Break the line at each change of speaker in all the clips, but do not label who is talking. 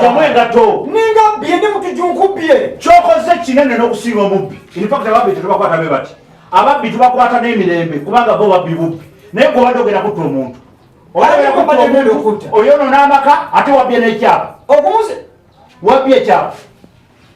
jamu engato
ninga bye ne
mutujunkubye kyokoze kinene
n'okusinga omubbi infact ababbi tetubakwata be bati ababbi tubakwata n'emirembe kubanga bo babbi bubbi naye gwe obadde ogenda kutta omuntu oyono n'amaka ate wabbye n'ekyapa
wabbye
ekyapa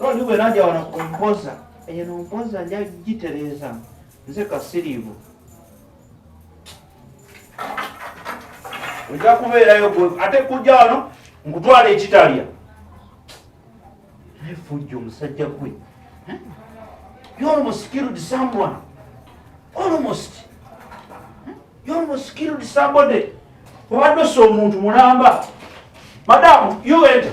Lodi bwe najja wano ku mpoza eyo no mpoza nja gitereeza nze kasiriivu ojja kubeerayo ate kujja wano nkutwala ekitalya naye fujja omusajja gwe eh? you almost killed someone almost eh? you almost killed somebody obadde osa omuntu mulamba madamu you enter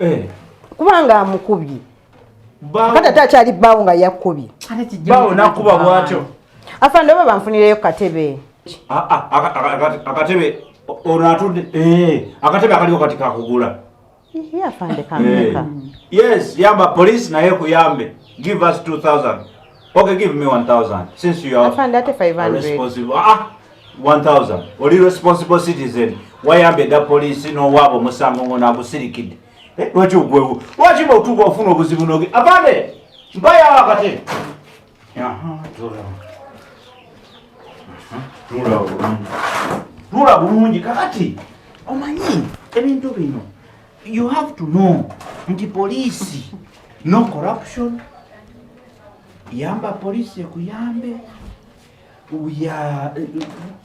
eh. kubanga amukubye kati ate akyali bbaawo nga yakkubye bbaawo nakuba
bwatyo afande oba
banfunireyo katebe ah, ah, akatebe
ono atudde eh, akatebe akaliko kati kakugula afande
kameka eh. yes yamba
police naye kuyambe give us 2000 Okay, give me 1000 since you are Afande ate 500. responsible.
Ah, 1000.
Oli responsible citizen. Wayambe da police no wabo musango ngona agusirikide. Eh, lwaki ugwewu. Lwaki bo tuko ofuna obuzibu noge. Afande. Mbaya wakati. Aha, tura. Aha, tura bulungi. Tura bulungi kakati. Omanyi ebintu bino. You have to know nti poliisi no corruption yamba poliisi ekuyambe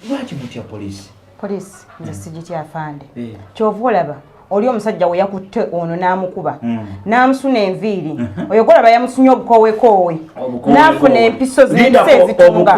lwaki mutya poliisi poliisi nze hmm.
sigitya afande eh. kyova olaba oli omusajja we yakutte ono n'amukuba hmm. n'amusuna enviiri uh-huh. oyo golaba yamusunye obukowekoowe n'afuna empiso z'ensi ezitunga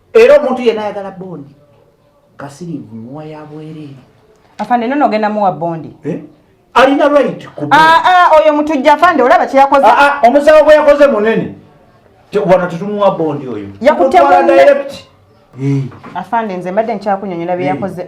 Era omuntu yena ayagala bondi kasirivu muwa ya bwereere. Afande nono
ogenda muwa bondi. Eh? Alina
right ku bondi. Ah, ah, oyo
mutujja afande olaba kye yakoze. Ah, ah, omusawo gwe yakoze
munene. Wano tetumuwa bondi oyo. Yakutte
bondi. Eh. Afande nze mbadde nkyakunyonyola bye eh. yakoze.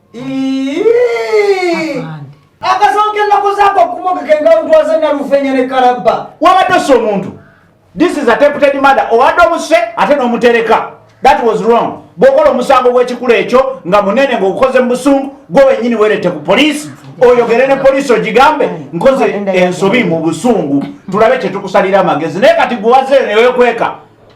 akasonka ennaku zaako okumogeka engalutwaza nalufenya ne kalabba wabadde ossa omuntu
this is attempted murder owadde omuse ate n'omutereka that was wrong bwokola omusango gw'ekikula ekyo nga munene ng'ogukoze mu busungu gwe wenyini werete ku poliisi oyogere ne poliisi ogigambe nkoze ensobi mu busungu tulabe kyetukusalira amagezi naye kati gwewazeyo newekweka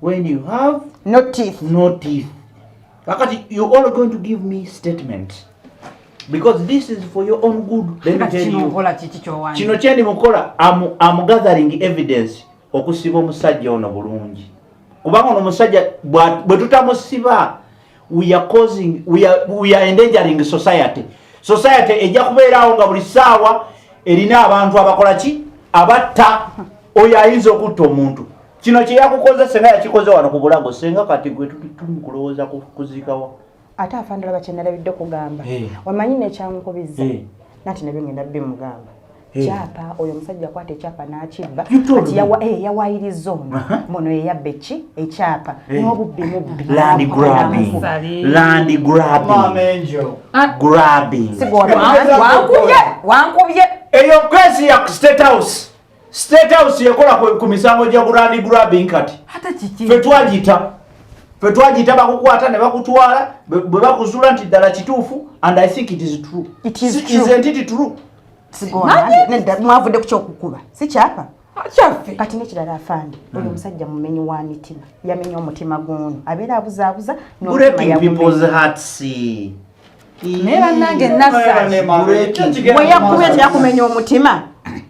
when you
have no teeth no
teeth
kakati you all going to give me statement because this is for your own good let me tell you kino kyendi mukola am, am gathering evidence okusiba omusajja ono bulungi kubanga ono omusajja bwe tutamusiba we are causing we are, we are endangering society society ejja kubeeraawo nga buli saawa erina abantu abakola ki abatta oyo ayinza okutta omuntu kino kyeyakukoze senga yakikoze wano ku bulago senga kati gwe tuli kulowooza kuzikawa ate afandala
bakyenalabidde kugamba eh. wamanyi nekyamukubiza eh. nati nabyo ngenda bimugamba eh. kyapa oyo omusajja akwata ekyapa nakibba kati yawayiriza ono muno yeyabba eki ekyapa nobubbi
mubbi
wankubye eyo kwesi ya
state house State House yekola ku, ku misango gya gurani grabbing kati fe
twagiyita
fe twagiyita bakukwata ne bakutwala bwe bakuzuula nti ddala kituufu and i think it is true it is true. Isn't it true?
mwavudde ku kyokukuba si kyapa kyaffe kati
nekirala afande
hmm. oyo omusajja mumenyi wa mitima yamenya omutima guno abeera abuzaabuza naye bannange
nasaweyakuba
ekyakumenya omutima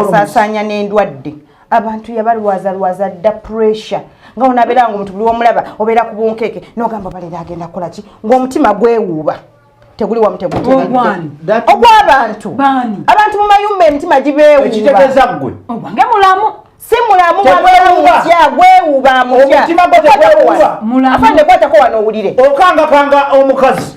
asaasaanya
n'endwadde abantu yabalwaza lwaza dda pressure nga onabeera nga omuntu buli womulaba obeera ku bunkeeke nogamba balera agenda kukola ki ng'omutima gwewuuba teguli wamu tegutogwabantu abantu mu mayumba emitima gibeewuubaekitegeeza ggwe
ogwange mulamu
si mulamu
wamutya gwewuuba amutya
afandekwatako wano
owulire okangakanga
omukazi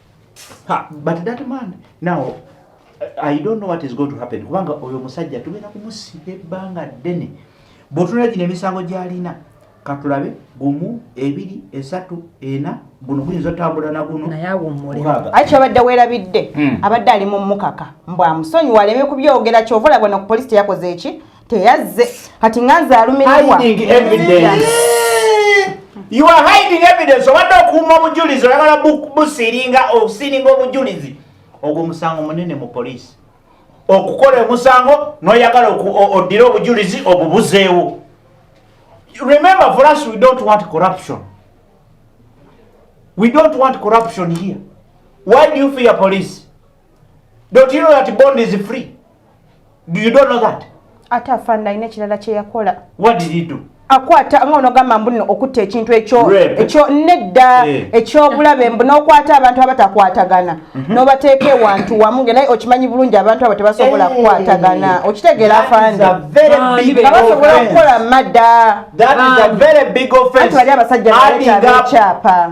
Ha, but that man now I don't know what is going to happen kubanga oyo musajja tugenda kumusiba ebbanga ddene bwotunula gino emisango gyalina katulabe gumu ebiri esatu ena guno guyinza otambula naguno naye awummuleaiki
abadde
werabidde hmm. abadde ali mu mukaka mbwamusonyiwa aleme kubyogera kyova olabona ku polisi teyakoze eki teyazze kati nga nze alumirirwa
you are hiding evidence obadde okuuma obujulizi oyagala busiringa osiringa obujulizi ogwo musango munene mu poliisi okukola omusango noyagala oddire obujulizi obubuzeewo remember for us we don't want corruption we don't want corruption here why do you fear police Don't you know that bond is free? Do you don't know that? Ata fanda ine
chilala che yakola. What did he do?
akwata nga onogamba
mbuno okutta ekintu ekyo ekyo nedda eh. ekyobulabe mbu nokwata abantu abatakwatagana mhm. nobateeka ewantu wamu nge naye okimanyi bulungi abantu abo tebasobola eh. kukwatagana okitegeera afandibasobola okukola madda
bali abasajja baleeta
abekyapa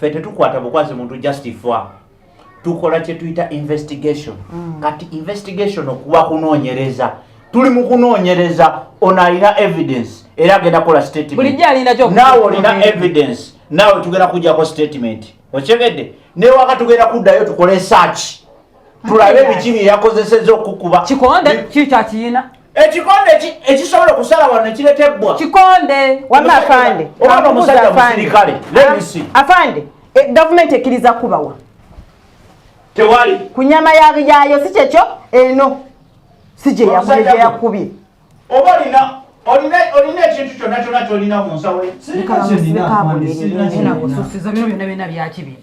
fe tetukwata bukwazi muntu just fwa tukola kyetuyita investigation mm. kati investigation okuba kunonyereza tuli mu kunonyereza ono alina evidence era agenda kola statementnaawe
olina evidence
naawe tugenda kujako statement okyegedde newaka tugenda kuddayo tukole search tulabe biki byeyakozeseza okukuba kikonde kiki
kyakiyina ekikonde
ekisobola okusala wano nekiretebwa kikonde wama
afande
obanga omusajja
musirikale lebisi ah, afande eh,
gavumenti ekkiriza kubawa
tewali ku nyama
yayo si kyekyo eno si gyeyakubye oba olina
olina ekintu kyonna kyona kyolina mu
nsawo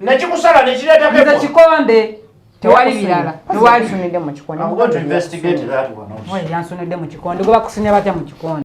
nekikusala
nekireeta kikonde
tewali birala tewalisunidde
mu
kikonde gwebakusinya
batya mu
kikonde